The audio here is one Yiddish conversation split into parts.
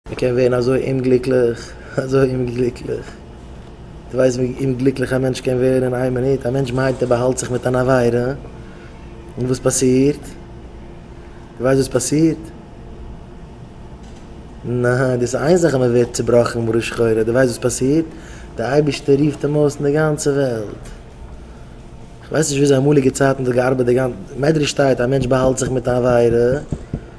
מען קען ווערן אזוי אומגליקליך, אזוי אומגליקליך. דו ווייסט ווי אומגליקליך א מענטש קען ווערן אין איין מינוט? א מענטש מיינט ער באהאלט זיך מיט אן עבירה, און וואס פאסירט? דו ווייסט וואס פאסירט? ניין, דאס איז איין זאך אז מען ווערט צובראכן מרה שחורה, דו ווייסט וואס פאסירט? די אייבערשטער רופט אים אויס אין די גאנצע וועלט. איך ווייס נישט וויאזוי אמאליגע צייטן האט געארבעט די גאנ. מדרש שטייט א מענטש באהאלט זיך מיט אן עבירה.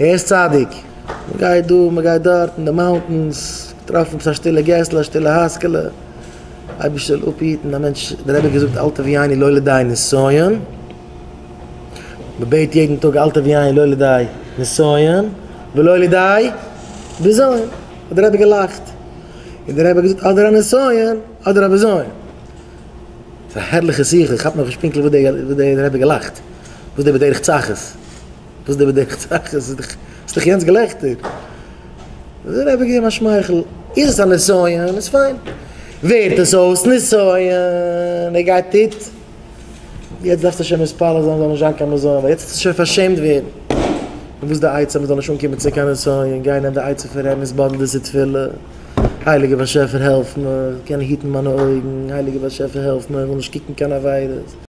ער איז צדיק, מען גייט דא מען גייט דארט אין די מאונטענס, געטראפן א שטילע געסלע א שטילע הייזקעלע, אייביג זאל אפהיטן א מענטש, דער רבי האט געזאגט אל תביא עיני לא לידי נסיון, מען בעט יעדן טאג אל תביא עיני לא לידי נסיון ולא לידי בזיון, האט דער רבי געלאכט, און דער רבי האט געזאגט אדער א נסיון אדער א בזיון, ס'איז א הערליכע שיחה, כ'כאפ נאכנישט פונקטליך וואס דער רבי האט געלאכט, וואס דער בדרך צחות. וואס די באדעקט זאך? עס איז דאך יענץ געלעכטער. האט ער אייביג געגעבן א שמייכל. איז עס א נסיון איז פיין. ווערט עס אויס נסיון, ער גייט איט. יעצט דארפסטו שוין מתפלל זיין זאל נישט זיין קיין נסיון, ווייל יעצט האסטו שוין פארשעמט ווערן. און וואס די עצה מ'זאל נישט אנקומען צו קיין נסיון? גיי נעם די עצה פון ר' עמוס בנדל'ס תפילה, הייליגער באשעפער העלף מיר, איך קען נישט היטן מיינע אויגן, הייליגער באשעפער העלף מיר, איך וויל נישט קוקן קיין עבירות.